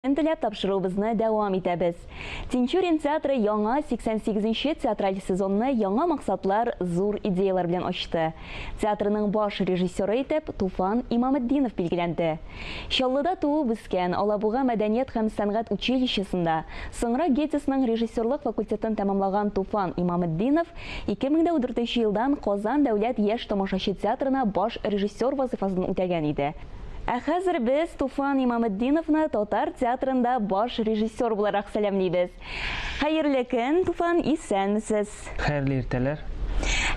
Теләп тапшыруыбызны дәвам итәбез. Тинчурин театры яңа 88 нче театраль сезонны яңа максатлар, зур идеяләр белән ачты. Театрының баш режиссеры итеп Туфан Имаметдинов билгеләнде. Чаллыда туып-үскән, Алабуга мәдәният һәм сәнгать училищесында, соңрак ГЕТИСның режиссерлык факультетын тәмамлаган Туфан Имаметдинов 2004 елдан Казан дәүләт яшь тамашачы театрына баш режиссер вазыйфасын үтәгән иде. Ә хәзер без Туфан Имаметдиновны татар театрында баш режиссер буларак сәламлибез. Хәерле көн, Туфан, исәнмесез? Хәерле иртәләр.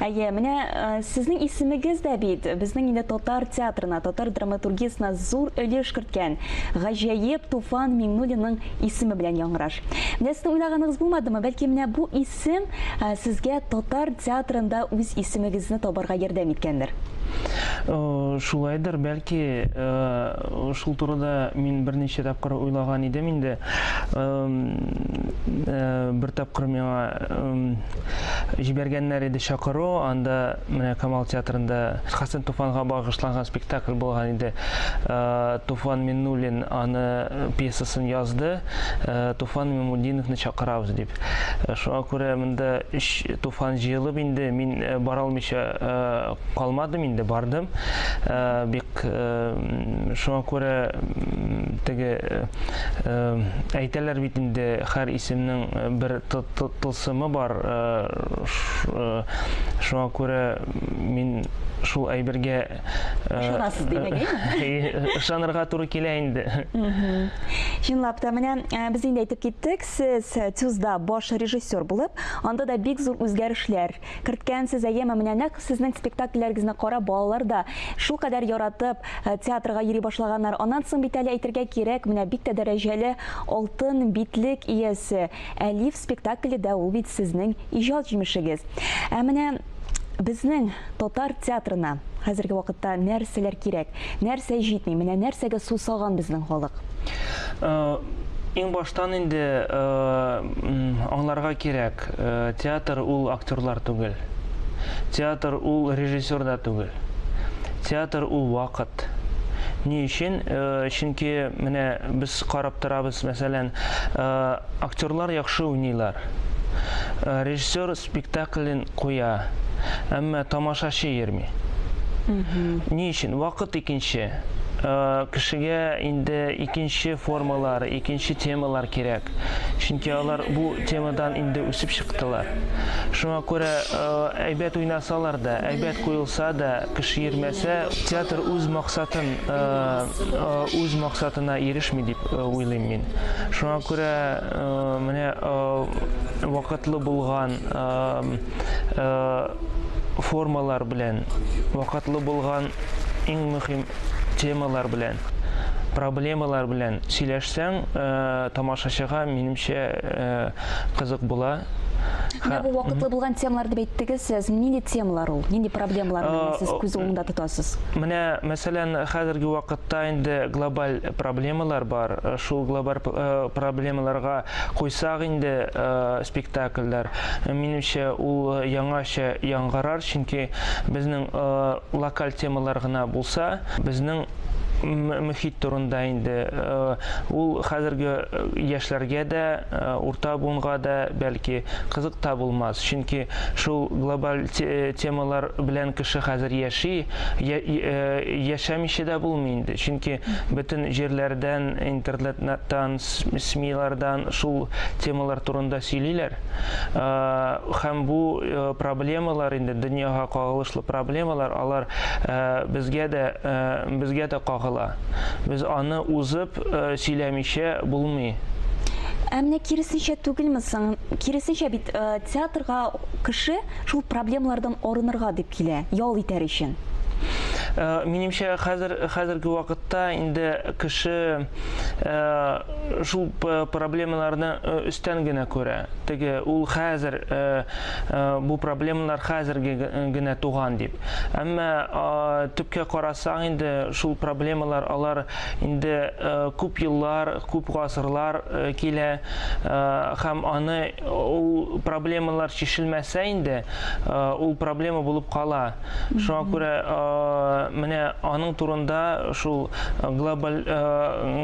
Әйе, менә э, сезнең исемегез дә бит безнең инде татар театрына, татар драматургиясенә зур өлеш керткән гаҗәеп Туфан Миңнуллинның исеме белән яңгыраш. Менә сезнең уйлаганыгыз булмадымы? Бәлки менә бу исем Сем сезгә татар театрында үз исемегезне табарга ярдәм иткәндер? Шулайдыр, бәлки. Шул турыда мин берничә тапкыр уйлаган идем инде. Бер тапкыр миңа җибәргәннәр иде чакыру, анда менә Камал театрында Хәсән Туфанга багышланган спектакль булган иде. Туфан Миннуллин аны пьесасын язды, Туфан Миңмутдиновны чакырабыз дип. Шуңа күрә монда өч туфан җыелып инде мин э, бара алмыйча э, калмадым инде, бардым. Э, бик шуңа күрә теге әйтәләр бит инде һәр исемнең бер тылсымы бар. Шуңа күрә мин шул әйбергә ышанасыз димәгәйме? Ышанырга туры килә инде. Чынлап та менә без инде әйтеп киттек, Сез ТЮЗда баш режиссер булып, анда да бик зур үзгәрешләр керткәнсез, әйеме? Менә нәкъ сезнең спектакльләрегезне карап, балалар да шулкадәр яратып, театрга йөри башлаганнар. Аннан соң бит әле әйтергә кирәк, менә бик тә дәрәҗәле алтын битлек иясе Әлиф спектакле дә ул бит сезнең иҗат җимешегез. Ә менә Безнең татар театрына хәзерге вакытта нәрсәләр кирәк, нәрсә җитми, менә нәрсәгә сусаган безнең халык? Иң баштан инде аңларга кирәк, театр ул актерлар түгел. Театр ул режиссер да түгел. Театр ул вакыт. Ни өчен? Чөнки менә без карап торабыз, мәсәлән, актерлар яхшы уйныйлар. Режиссер спектаклен куя, әмма тамашачы йөрми. Ни өчен? Вакыт икенче. Э, кешегә инде икенче формалар, икенче темалар кирәк. Чөнки алар бу темадан инде үсеп чыктылар. Шуңа күрә э, әйбәт уйнасалар да, әйбәт куелса да, кеше йөрмәсә, театр үз максатын, э, үз максатына ирешми дип уйлыйм мин. Шуңа күрә Менә вакытлы булган формалар белән, вакытлы булган иң мөһим темалар белән, проблемалар белән сөйләшсәң, тамашачыга, минемчә, кызык була. Менә бу вакытлы булган темалар дип әйттегез сез. Нинди темалар ул? Нинди проблемалар белән сез күз уңында тотасыз? Менә, мәсәлән, хәзерге вакытта инде глобаль проблемалар бар. Шул глобаль проблемаларга куйсак инде спектакльләр, минемчә, ул яңача яңгырар, чөнки безнең локаль темалар гына булса, безнең мөхит турында инде, ул хәзерге яшьләргә дә, урта буынга да, бәлки, кызык та булмас, чөнки шул глобаль темалар белән кеше хәзер яши, яшәмичә дә булмый инде. Чөнки бөтен җирләрдән, интернеттан, СМИлардан шул темалар турында сөйлиләр. Һәм бу проблемалар инде дөньяга кагылышлы проблемалар, алар безгә дә безгә дә кагыла. Без аны узып сөйләмичә булмый. Ә менә киресенчә түгелме соң? Киресенчә бит, театрга кеше Шул проблемалардан арынырга дип килә, ял итәр өчен. Э, минемчә хәзер хәзерге вакытта инде кеше э, шул проблемаларны э, өстән генә күрә теге ул хәзер бу проблемалар хәзерге генә туган дип әмма төпкә карасаң инде шул проблемалар алар инде күп еллар күп гасырлар килә һәм аны ул проблемалар чишелмәсә инде, ул проблема булып кала. Шуңа күрә менә аның турында шул глобаль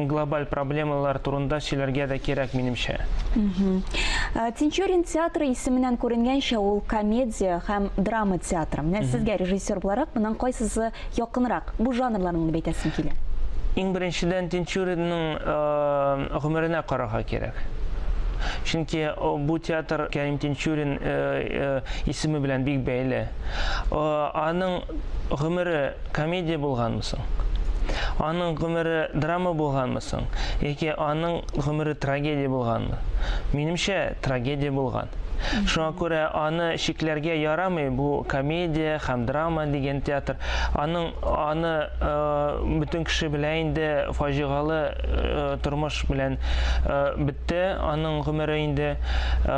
глобаль проблемалар турында сөйләргә дә кирәк минемчә. Тинчурин театры исеменнән күренгәнчә ул комедия һәм драма театры. Менә сезгә режиссер буларак моның кайсысы якынрак, бу жанрларны уйнап әйтәсең килә? Иң беренчедән Тинчуринның гомеренә карарга кирәк. Чөнки бу театр Кәрим Тинчурин исеме белән бик бәйле. Аның гомере комедия булганмы соң? Аның гомере драма булганмы соң? Яки аның гомере трагедия булганмы? Минемчә, трагедия булган. Шуңа күрә аны чикләргә ярамый, бу комедия һәм драма дигән театр. Аның аны э, бөтен кеше белә инде фаҗигалы э, тормыш белән э, бетте аның гомере инде. Э,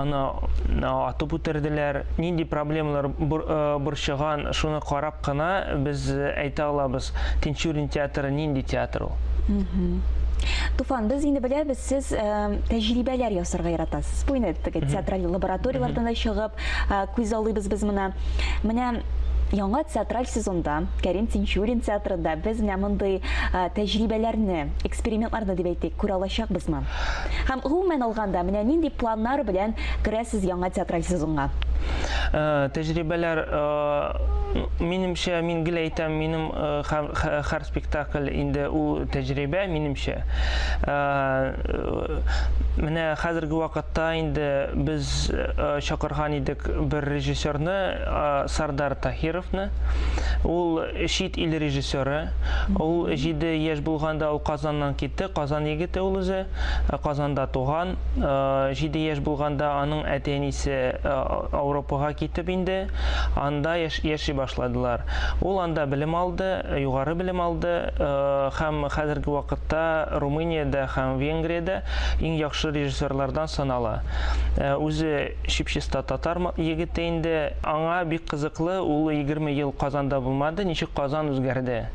аны э, атып үтерделәр. Нинди проблемалар бур, э, борчыган, шуны карап кына без әйтә алабыз. Тинчурин театры нинди театр? Туфан, без инде беләбез, сез э, тәҗрибәләр ясарга яратасыз. Бу инде теге театраль лабораторияләрдән дә чыгып, э, күз алыйбыз без моны. Менә яңа театраль сезонда Кәрим Тинчурин театрында без менә мондый э, тәҗрибәләрне, экспериментларны дип әйтик, күрә алачакбызмы? Һәм гомумән алганда, менә нинди планнар белән керәсез яңа театраль сезонга? Э, тәҗрибәләр, э, минемчә, мин гел әйтәм, минем һәр спектакль инде ул тәҗрибә, минемчә. Менә хәзерге вакытта инде без чакырган идек бер режиссерны, Сардар Таһировны. Ул чит ил режиссеры. Ул 7 яшь булганда ул Казаннан китте, Казан егете ул үзе, Казанда туган. 7 яшь булганда аның әти-әнисе Ауропага китеп инде, анда яши башладылар. Ул анда белем алды, югары белем алды һәм хәзерге вакытта Румыниядә һәм Венгриядә иң яхшы режиссерлардан санала. Үзе чип-чиста татар егете инде. Аңа бик кызыклы, ул егерме ел Казанда булмады, ничек Казан үзгәрде.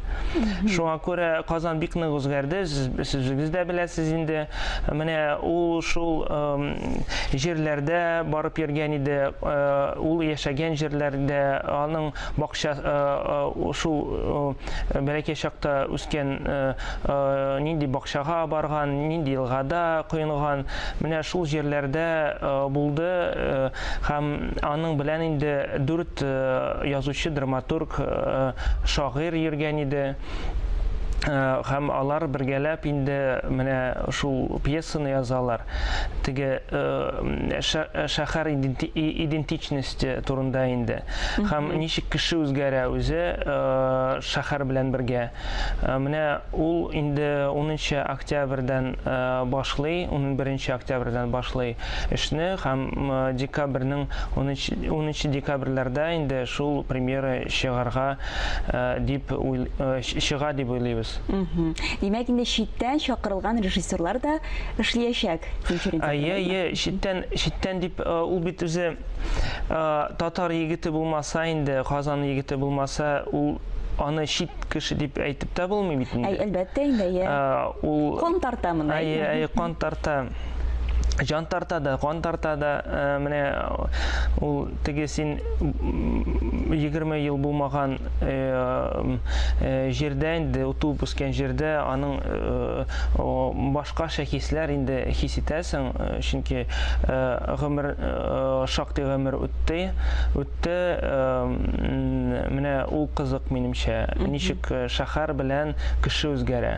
Шуңа күрә Казан бик нык үзгәрде, сез үзегез дә беләсез инде. Менә ул шул җирләрдә барып йөргән иде, ул яшәгән җирләрдә, аның Бакча шул бәләкәй чакта үскән нинди бакчага барган, нинди елгада коенган, менә шул җирләрдә булды һәм аның белән инде дүрт язучы, драматург, шагыйрь йөргән иде. һәм алар бергәләп инде менә шул пьесаны язалар. Теге шәһәр идентичности турында инде. Һәм ничек кеше үзгәрә үзе шәһәр белән бергә. Менә ул инде 10 октябрьдән башлый, 11 октябрьдән башлый эшне һәм декабрьнең 10 декабрьләрдә инде шул премьера чыгарга дип чыга дип уйлыйбыз. Димәк, инде читтән чакырылган режиссерлар да эшлиячәк Тинчурин театрында. Әйе, әйе, читтән, читтән дип ул бит үзе татар егете булмаса инде, Казан егете булмаса, ул аны чит кеше дип әйтеп тә булмый бит инде. Әлбәттә инде, әйе. Ул кан тарта моны. Әйе, әйе, кан тарта. Җан тарта да, кан тарта да, э, менә ул теге син 20 ел булмаган э, э, җирдә инде утуып үскән җирдә аның э, башкача хисләр инде хис итәсең, чөнки гомер шактый гомер үтте, үтте. Менә ул кызык минемчә. Ничек Шәһәр белән кеше үзгәрә.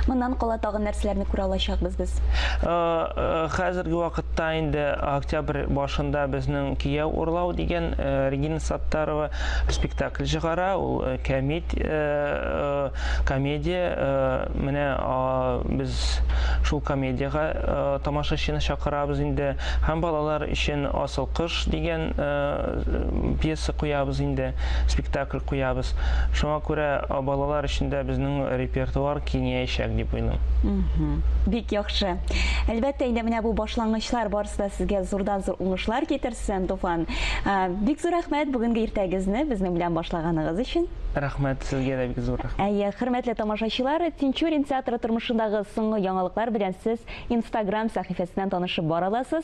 Моннан кала тагын нәрсәләрне күрә алачакбыз без? Хәзерге вакытта инде октябрь башында безнең Кияү урлау дигән Регина Саттарова спектакль чыгара. Ул кәмит комедия. Менә без шул комедиягә тамашачыны чакырабыз инде. Һәм балалар өчен Асыл кыш дигән пьеса куябыз инде, спектакль куябыз. Шуңа күрә балалар өчен дә безнең репертуар киңәячәк дип уйлыйм. Бик яхшы. Әлбәттә, инде менә бу башлангычлар барысы да сезгә зурдан-зур уңышлар китерсен, Туфан. Бик зур рәхмәт бүгенге иртәгезне безнең белән башлаганыгыз өчен. Рәхмәт, сезгә дә бик зур рәхмәт. Әйе, хөрмәтле тамашачылар, Тинчурин театры тормышындагы соңгы яңалыклар белән сез Instagram сәхифәсеннән танышып бара аласыз.